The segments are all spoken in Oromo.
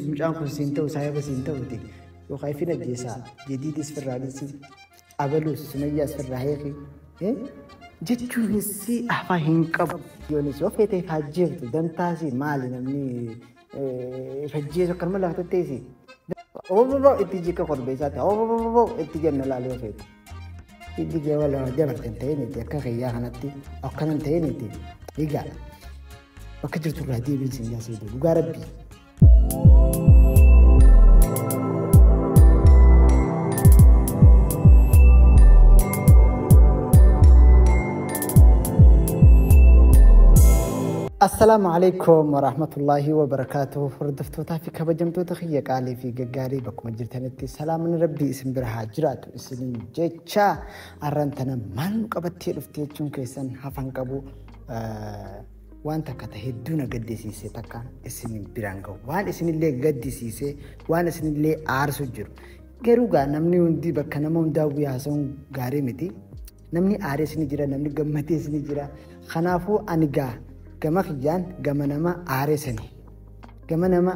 Mucaan kun siin ta'u saahiba siin ta'uti yookaan ifin ajjeesaa jadiidis firraa dhissi abaluus sumayyaas firraa heeki jechuun issi afaa hin qabu yoonis yoo feetee faajjeeftu dantaasi maali namni fajjeesu akkanuma lafa tatteessi. Obbo itti jikka korbeessaatti obbo itti jenna laali yoo feete. Hiddi kee wala dabartan ta'iniiti akka kiyyaa kanatti akkanan ta'iniiti egaa bakka jirtu irraa deebiin siin yaa seedu dhugaa rabbii. Assalaamu alaikum warahmatullaahi wabarakaatu hordoftootaa fi kabajamtoota kiyya qaalii fi gaggaarii bakkuma jirtanitti salaaman rabbii isin bira haa jiraatu. isiniin jecha arran tana maal nu qabattee dhufte jechuun keessan hafan qabu waan takka ta hedduu na gaddisiise takka isin biraan gahu waan isinillee gaddisiise waan isinillee aarsu jiru garuu gaa namni hundi bakka nama hundaa guyyaa haasa'uun gaarii miti namni aaree isin jira namni gammadee isin jira kanaafuu ani gaa gama kiyyaan gama nama aaree sanii gama nama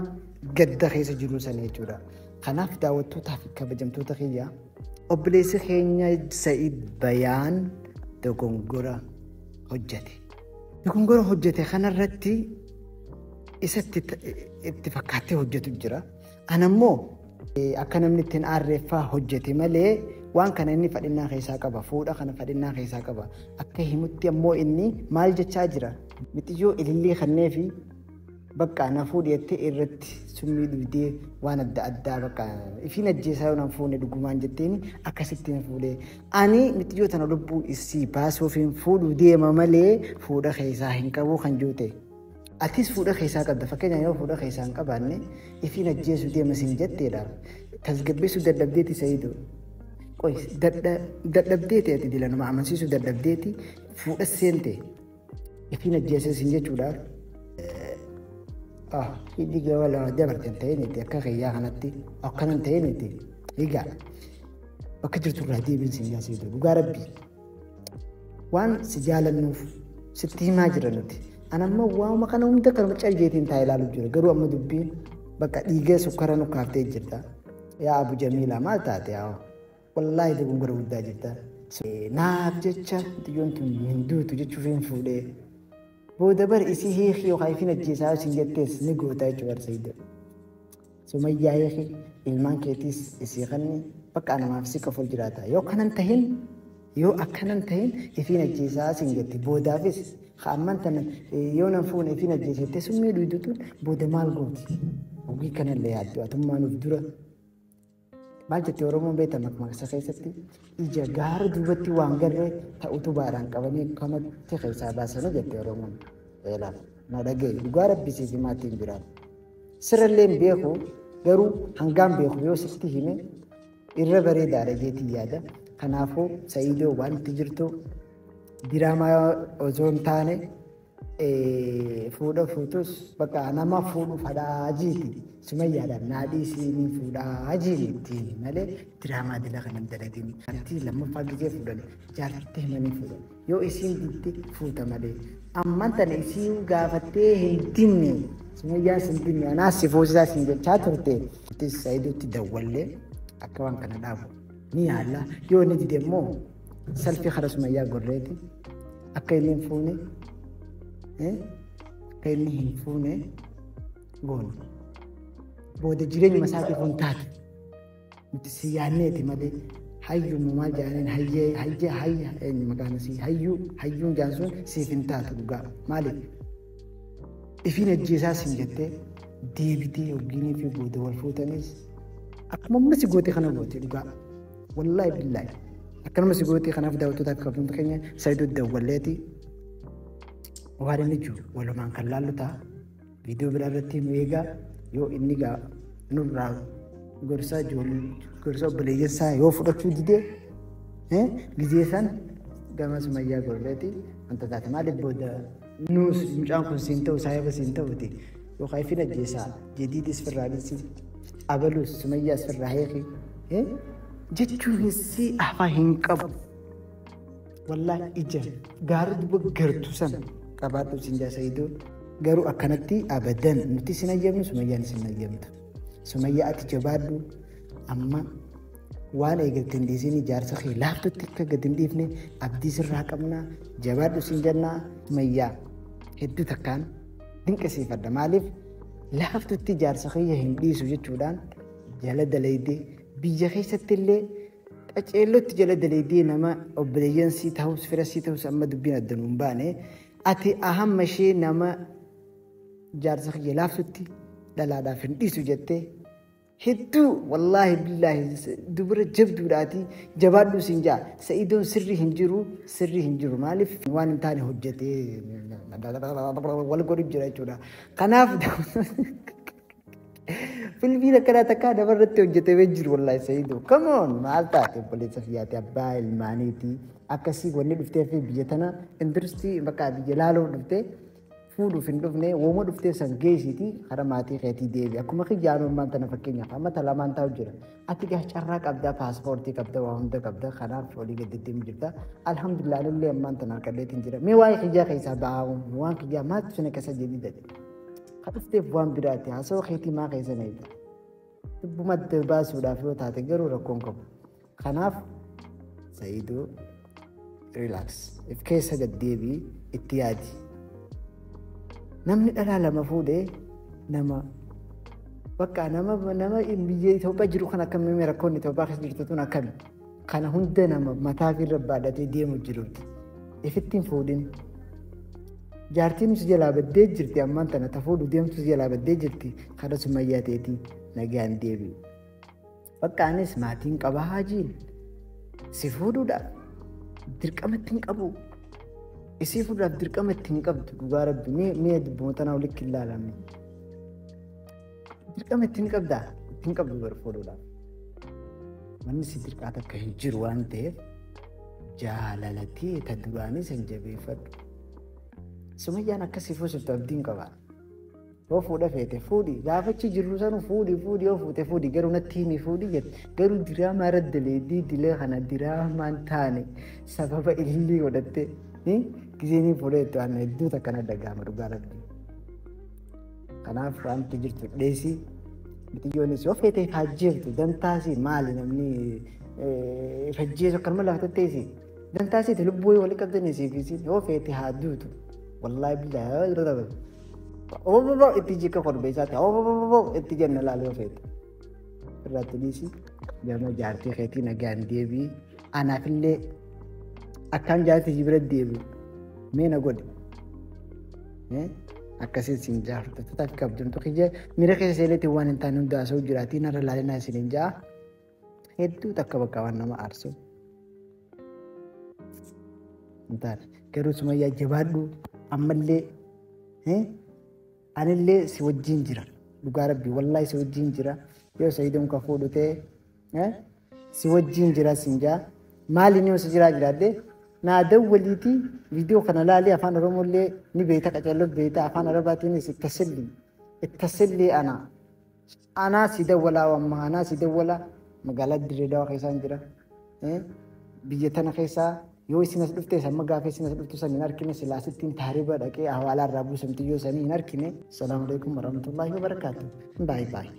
gadda keessa jiruu sanii jechuudha. Kanaaf daawwattootaa fi kabajamtoota kiyya obboleessi keenya Sa'iid Bayaan dogongora hojjete. Dogongora hojjete kanarratti isatti itti fakkaattee hojjetu jira. Ana immoo akka namni ittiin aarreeffaa hojjete malee waan kana inni fadhinnaa keessaa qaba. Fuudha kana fadhinnaa keessaa qaba. Akka himutti ammoo inni maal jechaa jira? Mixiyyoo ilillii kannee fi Bakka na fuudhi jettee irratti summii dhugdee waan adda addaa bakka ifiin ajjeesaa yoo nan fuune dhugumaan jetteen akkasitti na fuudhee. Ani mitiyyoo tana lubbuu isii baasuuf hin fuudhu deema malee fuudha keessaa hin qabu kan juute. Atis fuudha keessaa qabda fakkeenyaaf yoo fuudha keessaa hin qabaanne ifiin ajjeesuu deema sin jetteedha. Tasgabbeessuu dadhabdeeti sayiidoo. Qoy dadhabdeeti ati dila nama amansiisuu dadhabdeeti fuudha seente. Ittiin ajjeesee sin jechuudha. Hiddi gama lama dabarte hin ta'in itti akka kiyyaa kanatti akkana hin ta'in itti egaa bakka jirtu irraa deebiin sin yaasee jiru dhugaa rabbi waan si jaalannuuf sitti himaa jira nuti. An amma waanuma kana hunda kan mucaa jeetiin taa'ee ilaalu jira garuu amma dubbiin bakka dhiigee sukkara nu kaaftee jirta. Yaa Abu Jamiilaa maal taate yaa Wallaahi dogongora guddaa jirta. Naaf jecha xiyyoon tun hin duutu jechuuf hin fuudhee. Booda bar isii hiikii yookaan ifin ajjeesaa isin jettees ni gootaa jechuudha bar Sayido. Sumayyaa hiikii ilmaan keetiis isii kanni bakka anamaaf si qofa jiraata. Yoo kanan tahin yoo akkanan tahin ifin ajjeesaa isin jette boodaafis amman tana yoo nan fuune ifin ajjeesa jettee summii dhuydutuun booda maal gooti? Hogii kanallee yaaddu atummaan of dura Maal jetti Oromoon beekta makmaaksa keessatti ija gaara duubatti waan garree ta utubaadhaan qabanii kamatti keessaa baasanii jetti Oromoon. Eelaaf na dhagaye dhugaa rabbisii fi maatiin biraan. Sirallee hin beeku garuu hangaan beeku yoo sitti hime irra bareedaadha jeetii yaada. Kanaafuu Sa'iidoo waan itti jirtu diraamaa osoo hin taane fuudha fuutus bakka nama fuudhu fadhaa jiiti sumayyaadhaan naa dhiisii ni fuudhaa jiiti malee diraamaa dila kan hin dalagin jartii lammaffaa gizee fuudhan jaartitti himanii fuudhan yoo isiin diitti fuuta malee amman tana isiin gaafattee hin dinne sumayyaa sin dinne anaa si fuusisaa sin jechaa turte itti sayidutti dawwallee akka waan kana dhaabu ni yaalla yoo ni dide immoo salfii kana sumayyaa gorreeti akka inni hin fuune akka inni hin fuune goone booda jireenyuma isaatiif hin taate nuti si yaanneeti malee hayyuuma maal jedhaniin hayyee hayyee hayya eenyu maqaan isii hayyuu hayyuun jedhan sun siif hin taatu dhugaa maaliif ifiin ajjeesaa siin jettee deebitee yookiin fi booda wal fuutanis akkuma ammas goote kana goote dhugaa. Wallaahi billaahi. Akkanuma si gootii kanaaf daawwattoota akka hundi keenya Saayidoo Dawwalleeti. Waan inni jiru walumaan kan laallu ta'a. Viidiyoo biraa irratti nu eegaa yoo inni gaa nurraa gorsaa ijoollee gorsaa obboleeyyansaa yoo fudhachuu didee gizee san gama sumayyaa gorreeti wanta taate maaliif booda Nuus mucaan kun siin ta'u saahiba siin ta'uti yookaan ifin ajjeesaa jadiidis firraa dhissi abaluus sumayyaas firraa heeki jechuun hissi afaa hin qabu. Wallaa ija gaara duba gartu san qabaadhu siin jaa sayidoo garuu akkanatti abadan nuti sin ayyamnu sumayyaan sin ayyamtu. Sumayyaa ati jabaadhu amma waan eegalte hin dhiisiin ijaarsa kee laaftutti akka gad hin dhiifne abdii sirraa qabnaa jabaadhu siin jennaa mayyaa hedduu takkaan dinqisiifadha maaliif laaftutti ijaarsa kiyya hin dhiisu jechuudhaan jala dalaydee biyya keessatti illee qaceellotti jala dalaydee nama obboleeyyan sii ta'us fira sii ta'us amma dubbiin adda nuun baane ati ahamma ishee nama ijaarsa kiyya laaftutti dhalaadhaaf hin dhiisu jettee Hedduu wallaahi billaahi dubara jabduudhaati jabaadhuu siin jaa sa'idoon sirri hin jiru sirri hin jiru maaliif waan hin taane hojjetee wal godhu jira jechuudha. Kanaaf filmiin akkanaa takkaa nama irratti hojjetamee jiru wallaahi sa'idoo kamoon maal taate obboleessa fiyyaate abbaa ilmaaniiti akkasii wanni dhuftee fi biyya tana industirii bakka biyya laaloo dhuftee fuudhuuf hin dhufne wooma dhuftee san geessiiti hara maatii keetii deebi akkuma kiyyaan ummaan tana fakkeenyaaf amma talamaan taa'u jira ati gaa carraa qabdaa paaspoortii qabda waa hunda qabda kanaaf olii gaddeettiin jirta alhamdulillah illee ammaan tana harkadheetiin jira mee waa'ee kiyyaa keessaa ba'aa waan kiyyaa maatti sana keessa jedhi jedhe ka dhufteef waan biraati haasawaa keetii maa keessa na ibsa dubbuma adda baasuudhaaf yoo taate garuu rakkoon qabu Kanaaf Sa'iidoo relax if keessa gad deebii itti yaadi. Namni dhalaa lama fuudhee nama bakka nama nama biyya Itoophiyaa jiru kan akkamiin rakkoon Itoophiyaa keessa jirtu tun akkami kana hunda nama mataa fi irra baadhatee deemu jirutti ifitti hin fuudhin. Jaartiin si jalaa baddee jirti ammaan tana ta fuudhu deemtu si jalaa baddee jirti kana sumayyaa teetii nagaan deebi'u. Bakka anis maatiin qaba haajiin si fuudhuudha dirqama itti hin qabu. Isii fuudhaaf dirqama itti hin qabdu dhugaa rabbi mee mee dubboota naa walitti hin laalamne. Dirqama itti hin qabdaa itti hin qabdu bar fuudhuudhaaf. Manni si dirqaa takka hin jiru waan ta'eef jaalalatee ta duraanii san jabeeffadhu. Sumayyaan akkasii fuusiftu abdiin qabaa. Yoo fuudha feete fuudhi gaafa achi jirru sanu fuudhi fuudhi yoo fuute fuudhi garuu natti himi fuudhi jette garuu diraamaa irra daleeddii dilee kana diraamaan taane sababa ilillii godhatte gizeenii fuudhee itti waan hedduu takka na dhagahama dhugaa rabbi. Kanaaf wanti jirtu dheesii mitiyyoonis yoo feete faajjeeftu dantaasii maali namni fajjeesu akkanuma lafa tatteesii dantaasiiti lubbuu walii qabdanii siifisiin yoo feete haa duutu wallaahi billaahi Oboboboo itti jikka korbeessaatti oboboboo itti jenna laal yoo feete. Irratti dhiisi gama jaartii keetii nagaan deebii anaafillee akkaan jaartii si bira deebi'u mee na godhe. Eh, Akkasiin siin jaa fudhattoota akka abdamtu kiyya miira keessa seeneetiin waan hin taane hundaasuu jiraatii narra laalinaa isin hin jaa. Hedduu takka bakka waan nama aarsu. Hin taane. Garuu sumayyaa jabaadhu ammallee eh, anillee si wajjin jira. Dhugaa rabbi wallaahi si wajjin jira. Yoo sayidoon ka fuudhu ta'e eh, si wajjin jira sin jaa. Maali ni osi jiraa jiraadde naa dawwaliiti viidiyoo kana laalii afaan oromollee ni beeta qaceelloo beeta afaan arabaatiinis ittasilli ittasilli anaa. Anaa si dawwalaa wamma anaa si dawwala magaalaa dirree dawaa keessaan jira biyya tana keessaa yoo isin as dhufte samma gaafee isin as dhuftu san hin arkine silaa sittiin taariba dhaqee hawaalaa irraa buusamti yoo sanii hin arkine. Salaamu alaikum warahmatullahi wabarakatuh. Bye bye.